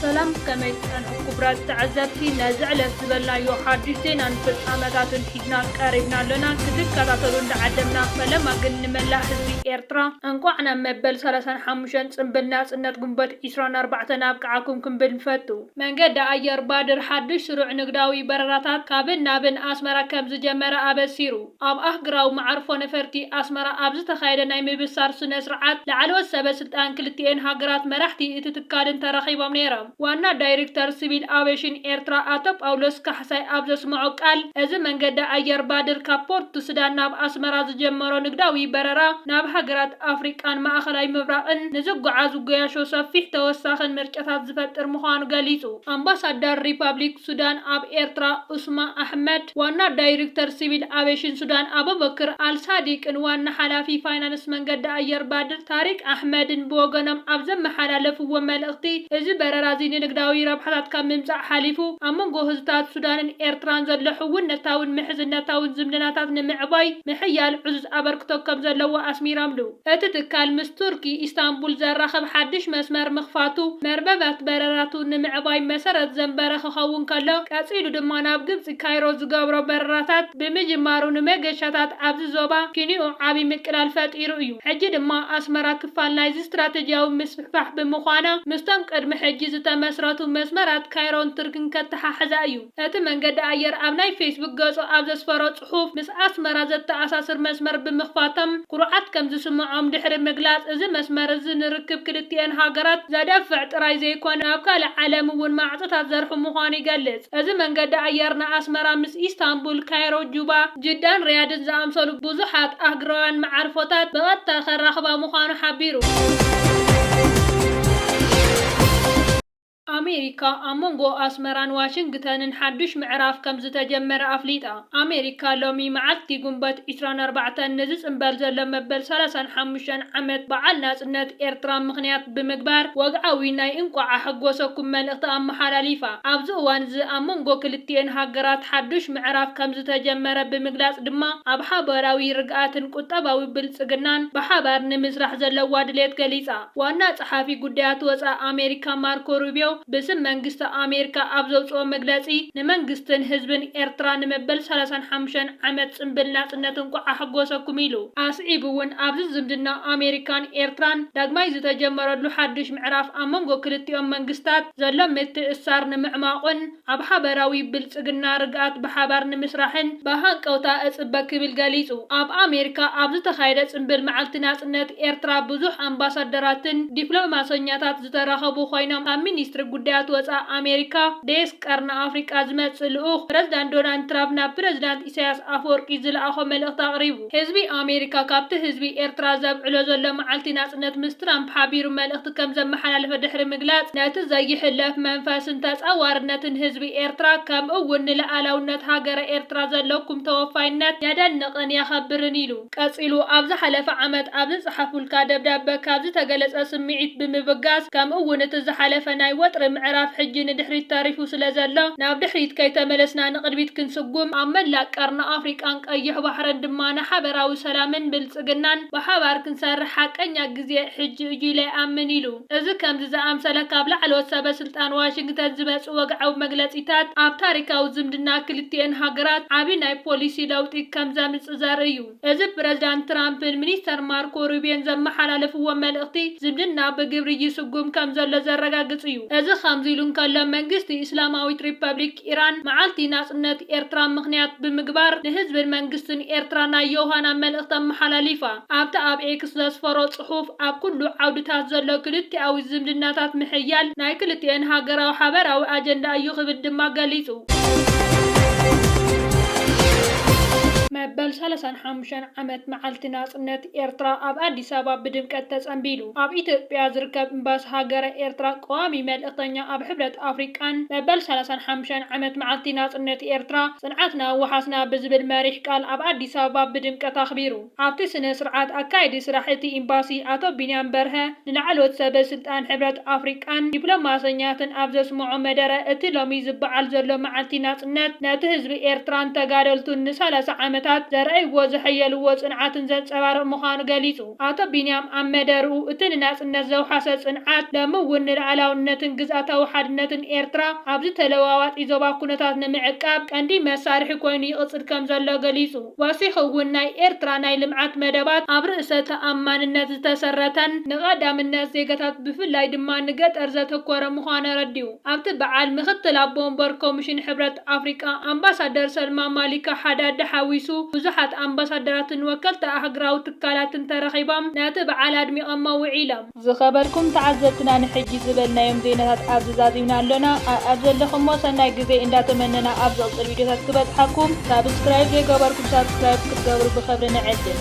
ሰላም ከመይ ትጸንሑ ኩቡራት ተዐዘብቲ ነዚ ዕለት ዝበልናዮ ሓዱሽ ዜናን ፍጻመታትን ሒዝና ቀሪብና ኣሎና ክትከታተሉ እንዳዓደምና ፈለማ ግን ንመላእ ህዝቢ ኤርትራ እንቋዕ ናብ መበል ሰላሳን ሓሙሽተን ጽንብል ናጽነት ጉንበት ዕስራን ኣርባዕተን ኣብቅዓኩም ክንብል ንፈቱ። መንገዲ ኣየር ባድር ሓዱሽ ስሩዕ ንግዳዊ በረራታት ካብን ናብን ኣስመራ ከምዝጀመረ ኣበሲሩ። ኣብ ኣህግራዊ መዓርፎ ነፈርቲ ኣስመራ ኣብ ዝተኻየደ ናይ ምብሳር ስነ-ስርዓት፣ ላዕለዎት ሰበ ስልጣን ክልቲኤን ሃገራት መራሕቲ እቲ ትካልን ተረኺቦም ነይሮም። ዋና ዳይሪክተር ስቪል ኣቬሽን ኤርትራ ኣቶ ጳውሎስ ካሕሳይ ኣብ ዘስመዖ ቃል፣ እዚ መንገዲ ኣየር ባድር ካብ ፖርት ሱዳን ናብ ኣስመራ ዝጀመሮ ንግዳዊ በረራ ናብ ሃገራት ኣፍሪቃን ማእኸላይ ምብራቕን ንዝጓዓዙ ገያሾ ሰፊሕ ተወሳኺን ምርጫታት ዝፈጥር ምዃኑ ገሊጹ። ኣምባሳዳር ሪፓብሊክ ሱዳን ኣብ ኤርትራ ኡስማ ኣሕመድ፣ ዋና ዳይርክተር ሲቪል ኣቬሽን ሱዳን ኣበበክር ኣልሳዲቅን ዋና ሓላፊ ፋይናንስ መንገዲ ኣየር ባድር ታሪቅ ኣሕመድን ብወገኖም ኣብ ዘመሓላለፍዎ መልእኽቲ፣ እዚ በረራ'ዚ ንንግዳዊ ረብሓታት ካብ ምምጻእ ሓሊፉ፣ ኣብ መንጎ ህዝብታት ሱዳንን ኤርትራን ዘሎ ሕውነታውን ምሕዝነታውን ዝምድናታት ንምዕባይ ምሕያል ዕዙዝ ኣበርክቶ ከምዘለዎ ኣስሚረምሉ። እቲ ትካል ምስ ቱርኪ ኢስታንቡል ዘራኽብ ሓድሽ መስመር ምኽፋቱ መርበባት በረራቱ ንምዕባይ መሰረት ዘንበረ ክኸውን ከሎ ቀጺሉ ድማ ናብ ግብጺ ካይሮ ዝገብሮ በረራታት ብምጅማሩ ንመገሻታት ኣብዚ ዞባ ኪንኡ ዓቢ ምቅላል ፈጢሩ እዩ። ሕጂ ድማ ኣስመራ ክፋል ናይዚ ስትራተጂያዊ ምስፍሕፋሕ ብምዃና ምስቶም ቅድሚ ሕጂ ዝተመስረቱ መስመራት ካይሮን ቱርክን ከተሓሕዛ እዩ እቲ መንገዲ ኣየር ኣብ ናይ ፌስቡክ ገጹ ኣብ ዘስፈሮ ጽሑፍ ምስ ኣስመራ ዘተኣሳስር መስመር ብምኽፋተን ኩርዓት ከም ዝስመዖም ድሕሪ ምግላጽ፣ እዚ መስመር እዚ ንርክብ ክልቲኤን ሃገራት ዘደፍዕ ጥራይ ዘይኮነ ናብ ካልእ ዓለም እውን ማዕጾታት ዘርሑ ምዃኑ ይገልጽ። እዚ መንገዲ ኣየር ንኣስመራ ምስ ኢስታንቡል፣ ካይሮ፣ ጁባ፣ ጅዳን ሪያድን ዝኣምሰሉ ብዙሓት ኣህግራውያን መዓርፎታት ብቐጥታ ከራኽባ ምዃኑ ሓቢሩ። ኣሜሪካ፣ ኣብ መንጎ ኣስመራን ዋሽንግተንን ሓዱሽ ምዕራፍ ከምዝተጀመረ ኣፍሊጣ። ኣሜሪካ ሎሚ መዓልቲ ጉንበት ዕስራን ኣርባዕተን ንዝጽንበል ዘሎ መበል ሰላሳን ሓሙሽተን ዓመት በዓል ናጽነት ኤርትራ ምኽንያት ብምግባር ወግዓዊ ናይ እንቋዕ ኣሐጎሰኩም መልእኽቲ ኣመሓላሊፋ። ኣብዚ እዋን'ዚ ኣብ መንጎ ክልቲኤን ሃገራት ሓዱሽ ምዕራፍ ከምዝተጀመረ ብምግላጽ ድማ ኣብ ሓባራዊ ርግኣትን ቁጠባዊ ብልጽግናን ብሓባር ንምስራሕ ዘለዋ ድሌት ገሊጻ። ዋና ጸሓፊ ጉዳያት ወጻኢ ኣሜሪካ ማርኮ ሩብዮ ብስም መንግስቲ ኣሜሪካ ኣብ ዘውጽኦ መግለጺ ንመንግስትን ህዝብን ኤርትራ ንመበል ሰላሳን ሓሙሽተን ዓመት ጽንብል ናጽነት እንቋዕ ኣሕጎሰኩም ኢሉ። ኣስዒቡ'ውን ኣብዚ ዝምድና ኣሜሪካን ኤርትራን ዳግማይ ዝተጀመረሉ ሓድሽ ምዕራፍ ኣብ መንጎ ክልቲኦም መንግስታት ዘሎ ምትእስሳር ንምዕማቑን፣ ኣብ ሓበራዊ ብልጽግና ርግኣት ብሓባር ንምስራሕን ብሃንቀውታ እጽበ ክብል ገሊጹ። ኣብ ኣሜሪካ ኣብ ዝተኻየደ ጽምብል መዓልቲ ናጽነት ኤርትራ ብዙሕ ኣምባሳደራትን ዲፕሎማሰኛታት ዝተረኸቡ ኮይኖም ካብ ሚኒስትሪ ጉዳያት ወጻእ ኣሜሪካ ዴስክ ቀርኒ ኣፍሪቃ ዝመጽእ ልኡኽ ፕረዚዳንት ዶናልድ ትራፕ ናብ ፕረዚዳንት ኢሳያስ ኣፈወርቂ ዝለኣኾ መልእኽቲ ኣቕሪቡ። ህዝቢ ኣሜሪካ ካብቲ ህዝቢ ኤርትራ ዘብዕሎ ዘሎ መዓልቲ ናጽነት ምስ ትራምፕ ሓቢሩ መልእኽቲ ከም ዘመሓላለፈ ድሕሪ ምግላጽ፣ ነቲ ዘይሕለፍ መንፈስን ተጻዋርነትን ህዝቢ ኤርትራ ከምኡ'ውን ንልኣላውነት ሃገረ ኤርትራ ዘለኩም ተወፋይነት የደንቕን የኸብርን ኢሉ። ቀጺሉ ኣብ ዝሓለፈ ዓመት ኣብ ዝጸሓፉልካ ደብዳበ ካብ ዝተገለጸ ስምዒት ብምብጋስ ከምኡ'ውን እቲ ዝሓለፈ ናይ ወጥሪ ምዕራፍ ሕጂ ንድሕሪት ተሪፉ ስለዘሎ ናብ ድሕሪት ከይተመለስና ንቕድሚት ክንስጉም ኣብ መላእ ቀርኒ ኣፍሪቃን ቀይሕ ባሕርን ድማ ንሓበራዊ ሰላምን ብልጽግናን ብሓባር ክንሰርሕ ሓቀኛ ግዜ ሕጂ እዩ ኢለ ይኣምን ኢሉ። እዚ ከምዚ ዝኣምሰለ ካብ ላዕለዎት ሰበ ስልጣን ዋሽንግተን ዝመጽእ ወግዓዊ መግለጺታት ኣብ ታሪካዊ ዝምድና ክልቲኤን ሃገራት ዓቢ ናይ ፖሊሲ ለውጢ ከም ዘምጽእ ዘርኢ እዩ። እዚ ብፕረዚዳንት ትራምፕን ሚኒስተር ማርኮ ሩቢዮን ዘመሓላለፍዎ መልእኽቲ ዝምድና ብግብሪ ይስጉም ከም ዘሎ ዘረጋግጽ እዩ። እዚ ከምዚ ኢሉ እንከሎ መንግስቲ እስላማዊት ሪፐብሊክ ኢራን መዓልቲ ናጽነት ኤርትራ ምኽንያት ብምግባር ንህዝብን መንግስትን ኤርትራ ናይ ዮውሃና መልእኽቲ ኣመሓላሊፋ። ኣብቲ ኣብ ኤክስ ዘስፈሮ ጽሑፍ፣ ኣብ ኩሉ ዓውድታት ዘሎ ክልቲኣዊ ዝምድናታት ምሕያል ናይ ክልቲኤን ሃገራዊ ሓበራዊ ኣጀንዳ እዩ ክብል ድማ ገሊጹ። መበል ሰላሳን ሓሙሽተን ዓመት መዓልቲ ናጽነት ኤርትራ ኣብ ኣዲስ ኣበባ ብድምቀት ተጸንቢሉ። ኣብ ኢትዮጵያ ዝርከብ እምባሲ ሃገረ ኤርትራ ቀዋሚ መልእኽተኛ ኣብ ሕብረት ኣፍሪቃን መበል ሰላሳን ሓሙሻይን ዓመት መዓልቲ ናጽነት ኤርትራ ጽንዓትና ወሓስና ብዝብል መሪሕ ቃል ኣብ ኣዲስ ኣበባ ብድምቀት ኣኽቢሩ። ኣብቲ ስነ ስርዓት ኣካያዲ ስራሕ እቲ ኢምባሲ ኣቶ ቢንያም በርሀ፣ ንላዕለዎት ሰበ ስልጣን ሕብረት ኣፍሪቃን ዲፕሎማሰኛትን ኣብ ዘስመዖ መደረ እቲ ሎሚ ዝበዓል ዘሎ መዓልቲ ናጽነት ነቲ ህዝቢ ኤርትራን ተጋደልቱን ንሰላሳ ዓመታት ዘርኣይዎ ዘሐየልዎ ጽንዓትን ዘንጸባርቕ ምዃኑ ገሊጹ። ኣቶ ቢንያም ኣብ መደርኡ እቲ ንናጽነት ዘውሓሰ ጽንዓት ሎሚ እውን ንልኣላውነትን ግዝኣታዊ ሓድነትን ኤርትራ ኣብዚ ተለዋዋጢ ዞባ ኩነታት ንምዕቃብ ቀንዲ መሳርሒ ኮይኑ ይቕጽል ከምዘሎ ገሊጹ። ወሲኹ'ውን ናይ ኤርትራ ናይ ልምዓት መደባት ኣብ ርእሰ ተኣማንነት ዝተሰረተን ንቐዳምነት ዜጋታት ብፍላይ ድማ ንገጠር ዘተኮረ ምዃኑ ኣረዲኡ። ኣብቲ በዓል ምክትል ኣቦ ወንበር ኮሚሽን ሕብረት ኣፍሪቃ ኣምባሳደር ሰልማ ማሊካ ሓዳድ ሓዊሱ ብዙሓት ኣምባሳደራትን ወከልቲ ኣህግራዊ ትካላትን ተረኺቦም ነቲ በዓል ኣድሚቐሞ ውዒሎም። ዝኸበርኩም ተዓዘብትና ንሕጂ ዝበልናዮም ዜናታት ኣብዚ ዛዚምና ኣሎና ኣኣብ ዘለኹሞ ሰናይ ግዜ እንዳ ተመነና ኣብ ዝቕጽል ቪድዮታት ክበጽሓኩም ሳብስክራይብ ዘይገበርኩም ሳብስክራይብ ክትገብሩ ብኸብሪ ንዕድም።